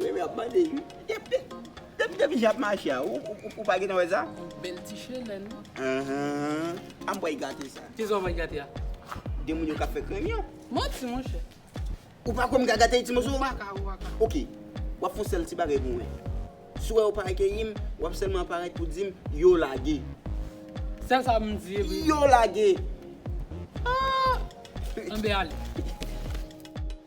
Remy ap bande ui. Depi depi jan ap mache a ou pa gentan wè sa? Bèl ti chelèn. Aah anmwey gate sa. Kisa ou wè nan gate a? De moun yo kap fè krèm yo. Manti monchè. Ou pa kwè m ka gate ti moso? Ou paka, ou paka. Ok, wap fon sèl ti bagay pou mwen. Si ou wè ou pa akeyi m, wap sèlman aparèt pou di m yo lage. Sèl sa m di epi. Yo lage! Aah! Anmbe ale.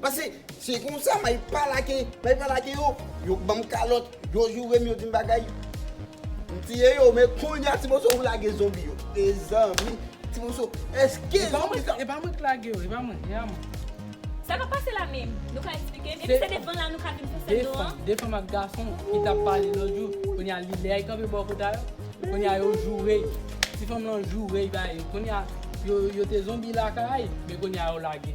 Pase se konsa may pala ke may pala ke yo yo k banm kalòt yo jourem yo dim bagay m tiye yo men kounya ti moso ou lage zonbi yo mezanmi ti moso eske zonbi sa. Epa mwen k lage yo epa mwen ya mwen. Sa kap pase la menm? Nou ka esplike m? Epi se devan la nou ka vin sou sèn nou an? De fanm ak gason ki tap pale lòt jou kounya li lè y kanpe bò kota yo kounya yo joure y ti fanm lan joure y bay kounya yo te zonbi lakay men kounya yo lage.